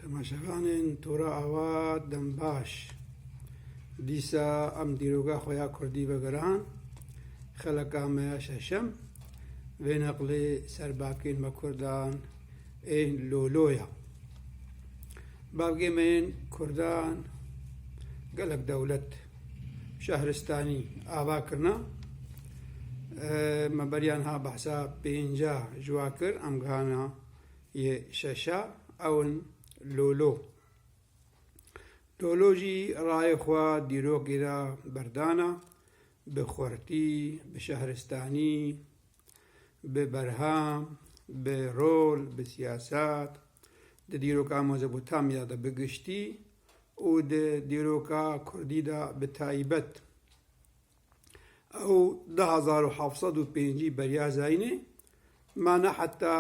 Temaşevanên Tora Awa Dembaş dîsa em dîroga xwe ya kurdî vegiran xeleka me ya şeşem vê neqlê ser bavkên me kurdan ên lolo ya. Bavgê me yên kurdan gelek dewlet şehristanî ava kirina me beriyan ha behsa pênca ji wa kir em gihana Yê şeşa ew in Lolo. Lolo jî rayê xwe dîrokî re berdana, bi xurtî, bi şehristanî, bi berhem, bi rol, bi siyaset, di dîroka Mezopotamya de bi giştî û di dîroka kurdî de bi taybet. Ew du hezar û heft sed û pêncî beriya Zayînê ma ne heta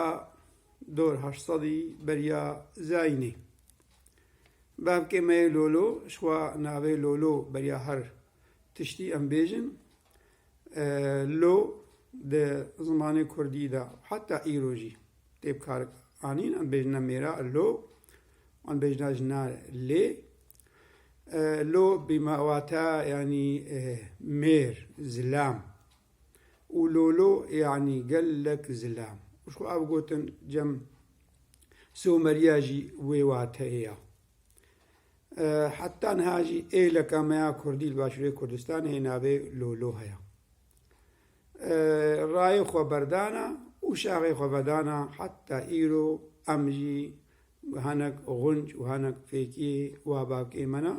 du hezar û heşt sedî beriya Zayînê. Bavkê me yê Lolo ji xwe navê Lolo beriya her tiştî em bêjin. Lo di zimanê kurdî de û heta îro jî tê bikaranîn. Em bêjina mêra Lo, wan bêjina jina Lê. Lo bîma wata yanî mêr, zilam û lolo yanî gelek zilam. Xwe ev gotin cem Somerîya jî wê wateyê ya. Heta niha jî êleka me ya kurdî li Başûrê Kurdistanê navê lolo heye. rayê xwe berdana û şaxê xwe vedana heta îro em jî hinek xunc û hinek fêkî wa bavkê me ne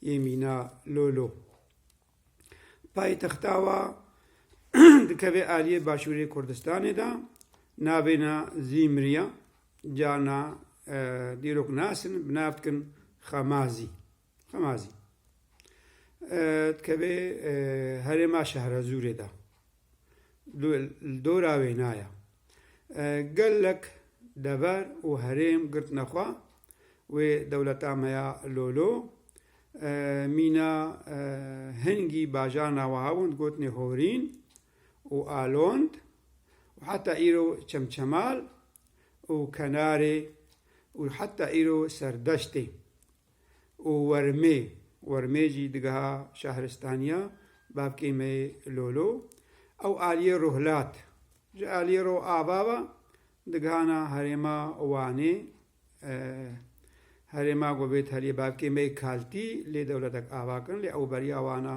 yê mîna Lolo. Paytexta wa dikeve aliyê başûrê Kurdistanê de navê ne Zîmriya, carna dîrok nasin bi nav dikin Xemazî. Xemazî dikeve herêma Şehrazûrê de. Li dora wêna ye. Gelek dever û herêm girtine xwe wê dewleta me ya Lolo. Mîna hingî bajar naweha wan digotinê Horîn û Alond û heta îro Çemçemal û Kenarê û heta îro Serdeştê. û wermê wermê jî digeha şahristaniya bavkê me yê Lolo. Ew aliyê Ruhlat ji aliyê Roava ve digihana herêma Wanê. Herêma ku vê teliyê bavkê me yê Kaltî lê dewletek ava kirin lê ew beriya wan a.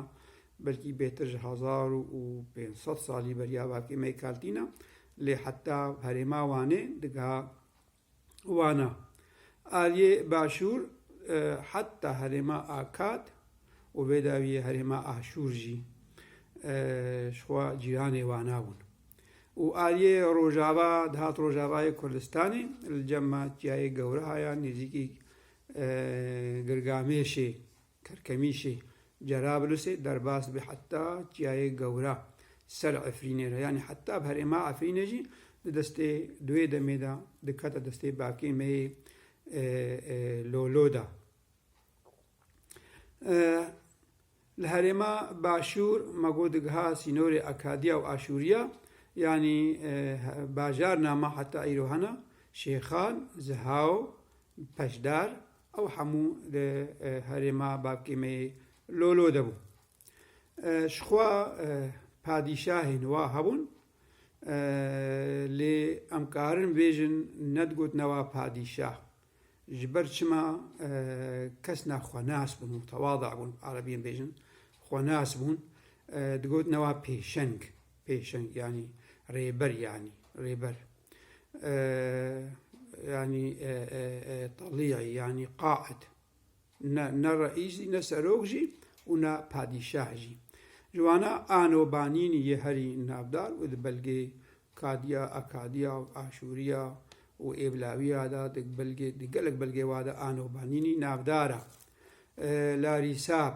Belkî bêtir ji hezar û pênc sed salî beriya bavkê me yê Kaltî ne lê heta herêma Wanê digeha. Wana, aliyê Başûr heta herêma Akad û vê dawiyê herêma Aşûr jî ji xwe cîranê Wana bûn û aliyê Rojava dihat Rojavayê Kurdistanê li cem ma çiyayê Gewraha ya nêzîkî Girgamêşê Karkemîşê Cerablusê derbas bi heta Çiyayê Gewra ser Efrînê re yanî heta bi herêma Efrînê jî di destê duê demê de dikete destê bavkê me yê Lolo de. Li herêma Başûr me got digiha sînorê Akadiya û Aşûriya yanî bajar Nama heta îro hene Şêxan, Zihaw, Peşdar, Ew hemû di herêma Babkêmeyê Lolo de bûn. Ji xwe padîşahên wa hebûn lê em karin bêjin ne digotina wa padîşah ji ber çima kesna xwenas bûn û tewada bûn, erebiyên bêjin xwenas bûn, digotina wa pêşeng. Pêşeng yanî rêber yanî rêber. Yanî talîyayî yanî qaîd. Ne ne reîs jî ne serok jî û ne padîşah jî. Ji wana ano banînî yê herî navdar û di belgê Kadiya, Akadiya, Aşûriya û Êvlawiya de di belgê di gelek belgê wa de ano banînî navdar e. Larîsab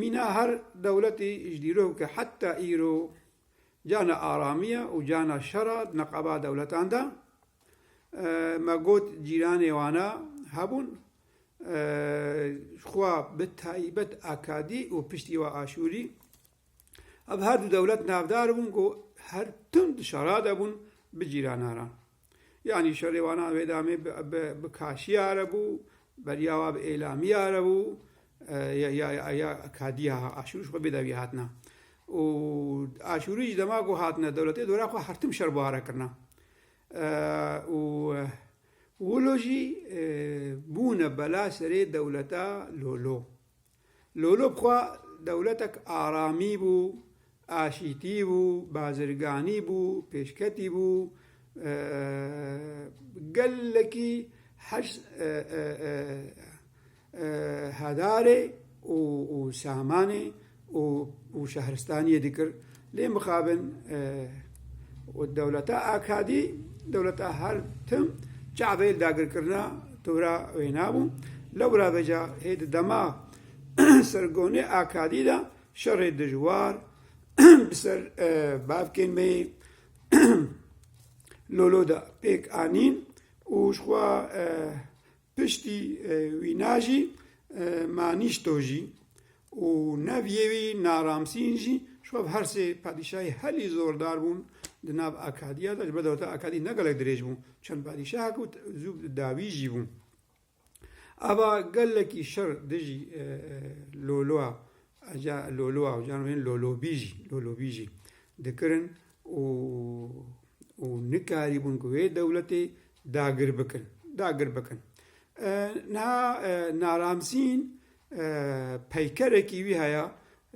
Mîna her dewletî ji dîrok ke heta îro cana aramiya û cana şera di neqeba dewletan de. Me got cîranê wan a hebûn xwe bi taybet Akadî û piştî we Aşûrî. Ev her du dewlet navdar bûn ku her tim di şera de bûn bi cîranan re. Yanî şerê wan a wê demê bi kaşiya re bû, beriya wan bi êlamiya re bû ya kadiya aşûrî ji xwe bê dewî hatina. Û aşûrî ji dema ku hatine dewletê dora xwe her tim şer buhare kirina. Û wilo jî bûne bela serê dewleta Lolo. Lolo bi xwe dewletek aramî bû, aşîtî bû, bazirganî bû, pêşketî bû, gelekî heş hedarê û samanê û şehristaniyê dikir Lê mixabin û dewleta Akadî, dewleta her tim çavê li dagirkirina tora wê nabû. Lewra veca hê di dema sergonê Akadî de şerê dijwar bi ser bavkên me yê Lolo de pêk anîn û jixwe Piştî wî na jî Manîşto jî û neviyê wî Naramsîn jî ji xwe bi her sê padîşahî helî zordar bûn di nav Akadiya de. Ji ber dewleta Akadî ne gelek dirêj bû, çend padîşahek û zû dawî jî bû. Ava gelekî şer dijî Lolua Aja lolo awcan bên lolobîjî, lolobîjî dikirin û û nikarîbûn ku wê dewletê dagir bikin, dagir bikin. Niha Naramsîn peykerekî wî heye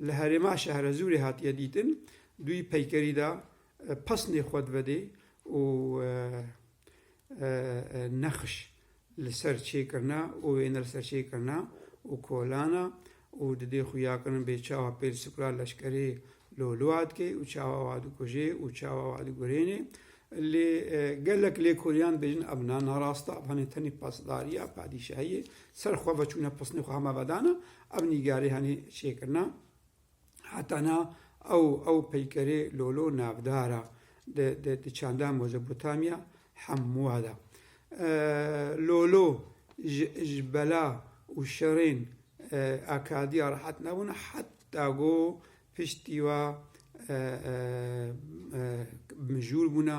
li herêma Şehrezûrê hatiye dîtin, dûyî peykerî de pesnê xwe divedê û nexş li ser çêkirina û wêne li ser çêkirina û kolana û di dê xuya kirin bê çawa pêl sukla leşkerê lolua dike û çawa wa dikuje û çawa wa digurêne. Lê gelek lêkoriyan dibêjin ev na narast e, ev hanê tenê pasdariya padîşahiyê ser xwe veçûne pisnê xwe hema vedana, ev nîgarî hanê çêkirina. Heta na ew ew peykerê lolo navdar a di di di çanda Mezopotamya hemûa de. Lolo ji ji bela û şerên Akadiya rehet nebûn heta ku piştî wa mijûl bûna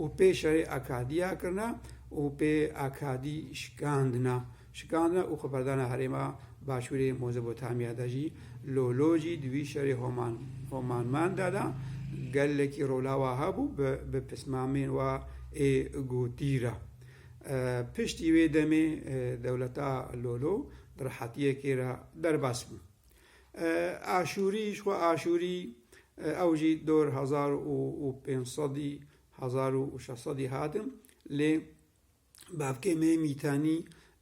û pê şerê Akadiya kirina û pê Akadî şikandina şikandina û xweberdana herêma başûrê Mozopotamya de jî lolo jî di wî şerê Homan Homanman de de gelekî rola wa hebû bi bi pismamên wa ê gotî re. Piştî wê demê dewleta lolo di rehetiyekê re derbas bû. Aşûrî ji xwe Aşûrî ew jî dor hezar û pênc sedî hezar û şeş sedî hatin lê bavkê me Mîtanî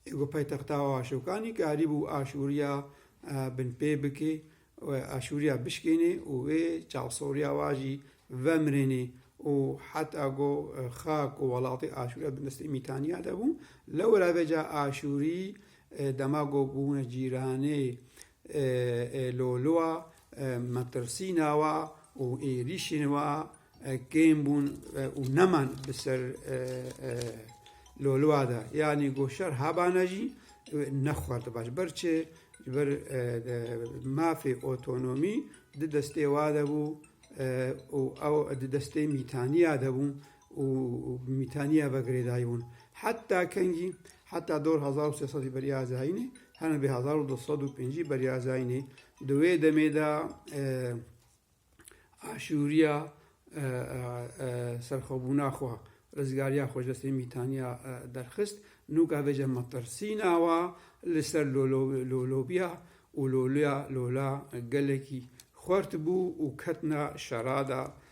ê ku paytexta Aşokanî karî bû Aşûriya binpê bikê û Aşûriya bişkênê û wê çavsoriya wa jî vemirênê û heta ku xak û welatê Aşûriya di destê Mîtaniya de bû lewra vê ca Aşûrî Dema ku bûne cîranê ê lolwa, metirsîna wa û êrîşên wa kêm bûn û neman bi ser lolwa de. Yanî ku şer hebane jî nexwerdiba. Ji ber çi? Ji ber mafê otonomî di destê wa de bû û ew di destê mîtaniya de bû. û mîtaniya vegirê dayî hûn. Heta kengî, heta dor hezar û sê sedî beriya zayînê, hene bê hezar û du sed û pêncî beriya zayînê. Di wê demê de aşûriya serxwebûna xwe, rizgariya xwe ji destê mîtaniya derxist. Nûka vê cem metirsîna wa li ser lolobiya û loliya lola gelekî xwert bû û ketina şerada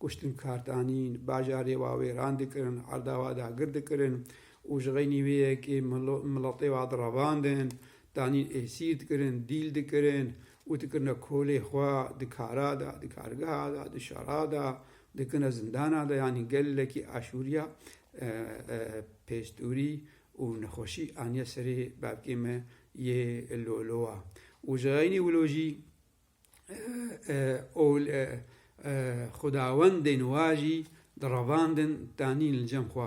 Kuştin kar danîn, bajarê wa wêran dikirin, erda wa dagir dikirin û ji xeynî wê yekê miletê wa direvandin, danîn êsîr dikirin, dîl dikirin û dikirine kolê xwe, di kara de, di kargeha de, di şera de, dikirine zindana de yanî gelekî aşûriya pêstûrî û nexweşî aniye serê bavkê me yê Lolowa û ji xeynî wilo jî. ol e xudawendên wa jî direvandin danîn li cem xwe.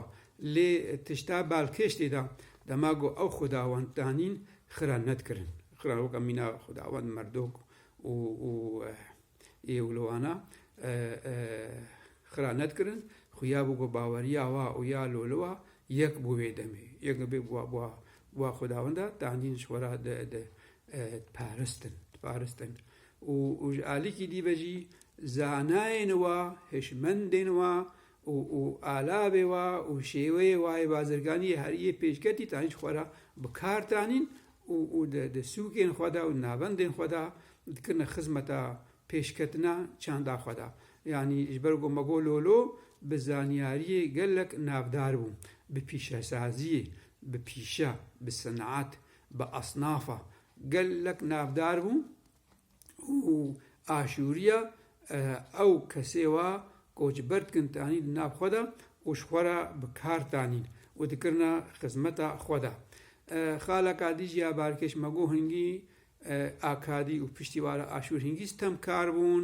Lê tişta balkêş tê de, dema ku ew xudawend danîn xira nedikirin. Xira weke mîna xudawend Merdok û û ê û li wana xira nedikirin. Xuya bû ku baweriya wa û ya loli wa yek bû wê demê. Yek bû wa bûwa bûwa xudawenda danîn ji xwe re di di diparêstin, diparêstin û û ji alîkî dî ve jî zanayên wa, hişmendên wa û û alavê wa û şêweyê wa yê bazirganiyê herî yê pêşketî tanî ji xwe re bi kar tanîn û û di di sûkên xwe de û di navendên xwe de dikirine xizmeta pêşketina çanda xwe de. Yanî ji ber ku me got lolo bi zanyariyê gelek navdar bû, bi pîşesaziyê, bi pîşe, bi sineat, bi esnafa gelek navdar bû û aşûriya ew kesê wa koçber dikin tanî di nav xwe de û ji xwe re bi kar tanî û dikirine xizmeta xwe de. Xala Kadî jî ya Barkêş Mego Hingî a Kadî û piştîvara Aşûr Hingî stemkar bûn.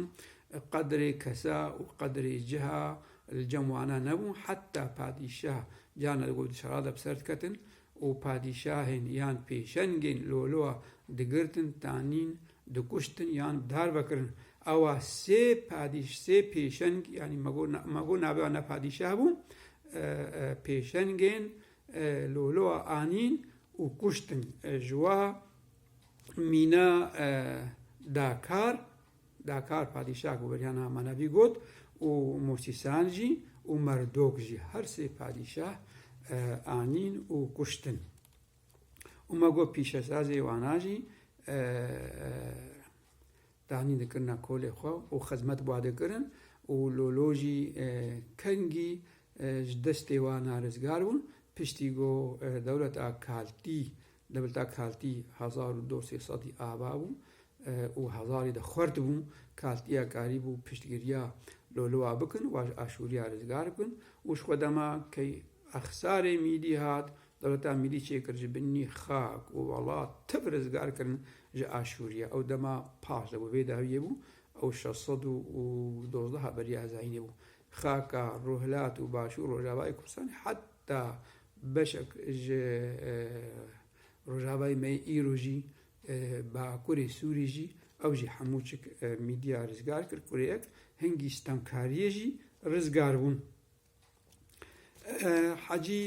Qedrê kesa û qedrê ciha li cem wana nebû. Heta padîşah carna di gul di şerade bi ser diketin û padîşahên yan pêşengên loloa digirtin, tanîn, dikuştin yan darbe kirin. Awa sê padîş sê pêşeng yanî me got me got navê wan ne padîşah bû pêşengên loloa anîn û kuştin. Ji wa mîna dakar Dakar padîşah ku beriya niha Manabî got û Mûsîsan jî û Merdok jî her sê padîşah anîn û kuştin. Û me got pîşesazê wana jî danîn dikirina kolê xwe û xizmet bi wan dikirin û lolo jî kengî ji destê wana rizgar bûn. Piştî ku dewleta Kaltî Di bilta kaltî hezar û do sê sedî ava bû û hezarî de xwert bû. Kaltîya karî bû piştgiriya loliwa bikin, wa ji aşûriya rizgar bikin û ji xwe dema key exsarê mîlî hat, dewleta mîlî çêkir ji binî xak û welat tiv rizgar kirin ji aşûriya. Ew dema paş de bû. Vê dawiyê bû ew şeş sed û dozdeha beriya hezayînê bû. Xaka Rûhilat û Başûr Rojavayê Kurdistanê heta Beşek ji Rojavayê me yê îro jî Bakurê Sûrî jî ew jî hemû çik mîdya rizgar kir. Kureyek hingî stemkariyê jî rizgar bûn. Hecî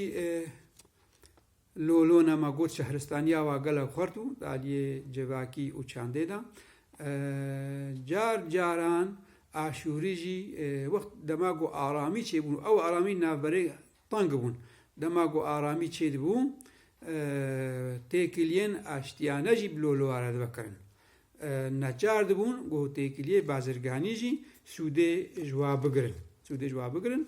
Lolo nema got şehristaniya wa gelek xurt û di aliyê civakî û çandê de. Car caran aşûrî jî wext dema ku aramî çêbûn û ew aramî navberê Teng bûn. Dema ku aramî çêdibû, têkiliyên aştiyane jî bi loleware dibe kirin. Neçar dibûn ku têkiliyê bazirganî jî sûdê ji wa bigirin. Sûdê ji wa bigirin.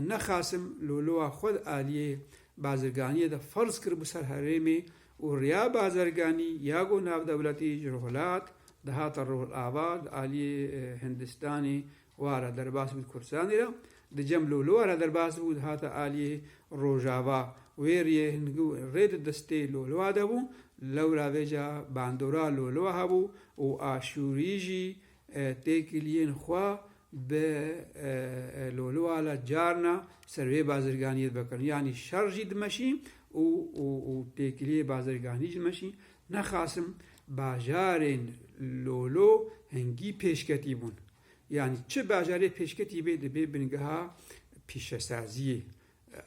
Ne Qasim lolewa xwe di aliyê bazirganiyê de ferz kiribû ser herêmê û riya bazirganî ya ku navdewletî ji Rihûlat dihate Rihûlava di aliyê Hindistanê Wara derbas bû di Kurdistanê de, di Cem Lolo wara derbas bû, dihata aliyê Rojava. Wê riyê hingû rê di destê Loloa de bû, lewra vê ca bandora Loloa hebû û Aşûrî jî têkiliyên xwe bi Loloa la carna ser vê bazirganiyê dibe kirin. Yanî şer jî dimeşî û têkiliyê bazirganî jî dimeşî. Nexasim bajarên lolo hingî pêşketî bûn. Yanî çi bajarê pêşketî bê dibê bingeha pîşesaziyê,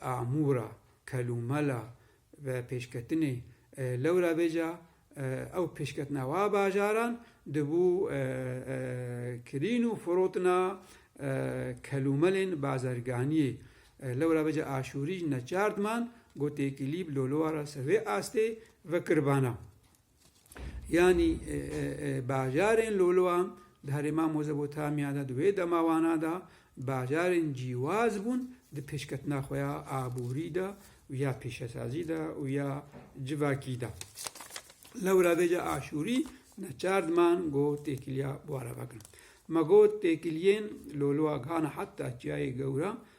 amûra, kelûmela ve pêşketinê. Lewra bêca ew pêşketina wa bajaran dibû kirîn û firotina kelûmelên bazerganiyê. Lewra bêca Aşûrî ji neçar diman got têkilî bi lolowa re ser vê astê Vekirbana yanî bajarên Lolwan di herêma Mozopotamya de di wê demawana de bajarên cîwaz bûn di pêşketina xwe ya aborî de û ya pêşesazî de û ya civakî de. Lewra vê ca Aşûrî neçar diman ku têkiliya bû arava kirin. Ma got têkiliyên Lolwa gihana heta çiyayê gewra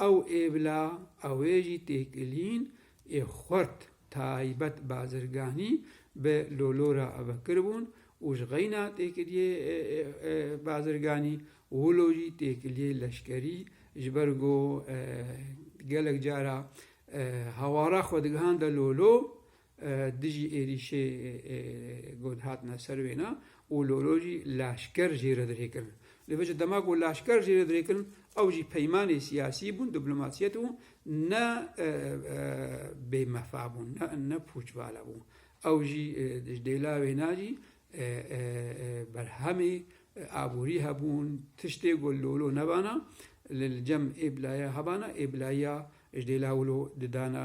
Ew ê bila ew ê jî têkilîn ê xwert taybet bazirganî bi lolo re ave kiribûn û ji xeyna têkiliyê bazirganî wilo jî têkiliyê leşkerî ji ber ku gelek cara hawara xwe digihande lolo Dijî êrîşê got hatine ser wêna û lolo jî leşker jê re dirê kirin. Li vê ji dema ku leşker jê re dirê kirin ew jî peymanê siyasî bûn, diplomasiyet û ne bêmefa bûn, ne pûçvala bûn. Ew jî ji dêla wêna jî berhemê aborî hebûn, tiştê ku lolo nebana li cem ê bila ye hebana, ê bila ya ji dêla wilo didana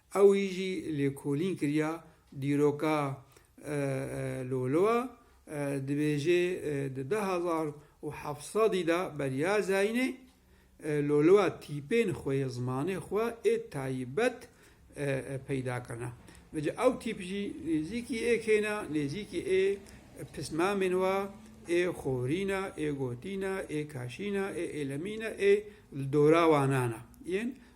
Ew yî jî lêkolîn kiriya dîroka Loloa, dibêje di du hezar û heft sedî de beriya Zaînê Loloa tîpên xwe yê zimanê xwe ê taybet peyda kirine. Vece ew tîp jî nêzîkî ê kêne, nêzîkî ê pismamên we ê xorîne, ê gotîne, ê kaşîne, ê êlemîne ê li dora wan ane yên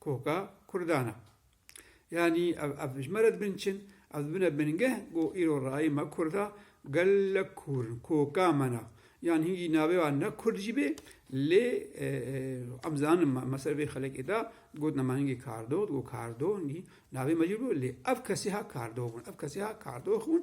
Koka Kurdan e. Yanî ev ev ji me re dibinçin, ev dibine bingeh ku îro rayê me Kurd a, gelek kûr in, koka me ne. Yan hingî navê wan ne Kurd jî bê lê em dizanin me me ser vê xelekê de dibgotin me hingî Kardo, dibgo Kardo hingî navê me jî bû lê ev kesî ha Kardo bûn, ev kesî ha Kardox bûn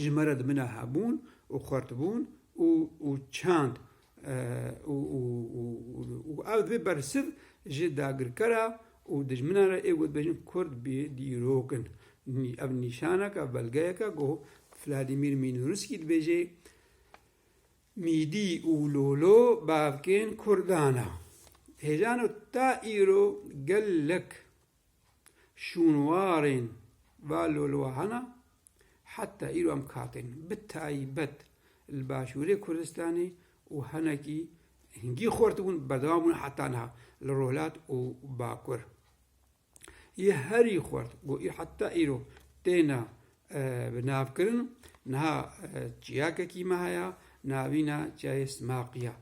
ji me re di min a hebûn û xwertbûn û û çand û û û û ev divê bersiv ji dagirkera û dijminan re ê gotbêjin Kurd bê dîrok in. Ev nîşaneke, belgeyeke ku Vladimîr Mînûrskî dibêje, Mîdî û lolo bavkên Kurdan a. Hêjan û ta îro gelek şûnwarên va lolowa hene Heta îro em katên bi taybet li Başûrê Kurdistanê û hinekî hingî xort bûn berdewam bûn heta niha li Rojhilat û Bakur yê herî xort got û heta îro têne binavkirin. Niha çiyakekî me heye navîna Çiyayê Simaqî ye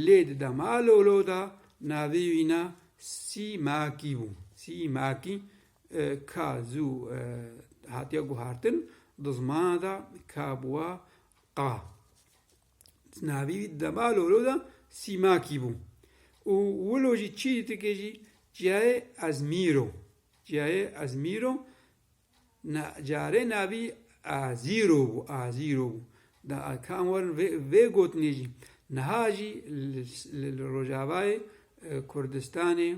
lê di dema lolo de navê wî ne Sîmakî bû. Sîmakî Ka zû hatiye guhartin di zimana de ka bûwa qa. Di navî wî dema lolo de Sîmakî bû û wilo jî çî dike jî ciyayê Ezmîr o. Ciyayê Ezmîr o carê navî Azîr o bû, Azîr o bû. Da kan werin vê vê gotinê jî niha jî li li Rojavayê Kurdistanê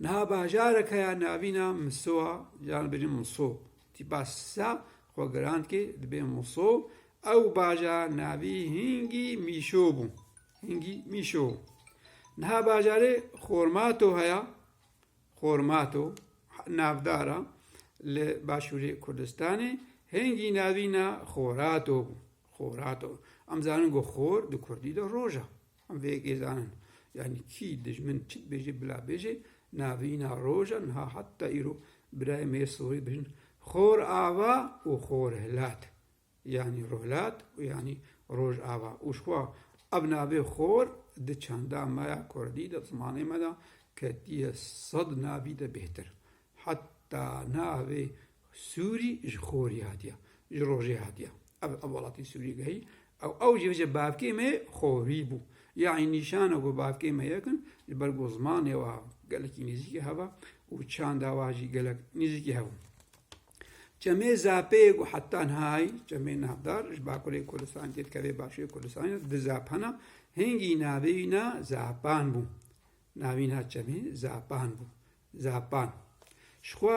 Niha bajareke ya navîna Misoa, caran dibêjin Muso, tîpa Sisa xwe girand kê dibê Muso, ew bajar navî hingî Mîşo bû. Hingî Mîşo. Niha bajarê Xormato heye, Xormato, navdar a li başûrê Kurdistanê, hingî navîna Xorato bû. Xorato. Em zanin ku xor di kurdî de roj e. Vê kêzanin yanî kî dijmin çi dibêje bila bêje navîna roja niha heta îro birayê me yê Sorî bijin Xor Ava û Xor Hilat yanî Rohilat û yanî Roj Ava û ji xwe ev navê Xor di çanda me ya kurdî de zimanê me de ketiye sed navî de bêhtir Heta navê Sûrî ji xorî hatiya, ji rojê hatiya. Ev ev welatî Sûrî gehî. Ew ew jî bije bavkê me ye xorî bû. Yanî nîşana ku bavkê me yekin ji ber ku zimanê wa gelekî nêzîkî hev e û çanda wa jî gelek nêzîkî hev in. Çemê Zapê ye ku heta nihayî çemê navdar ji Bakurê Kurdistanê tê dikeve Başûrê Kurdistanê di Zap hene. Hingî navê wî na Zapan bû. Navîna çemê Zapan bû. Zepan. Ji xwe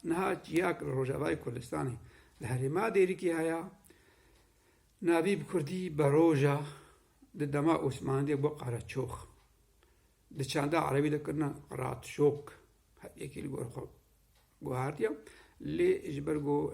niha çiyak li Rojavayê Kurdistanê li herêma Dêrikê heye. Navî bi kurdî Beroja di dema Osmanî de bû Qereçox. Di çanda erebî de kirine Qratşok. Her yekî li gor xwe guhardiye. Lê ji ber ku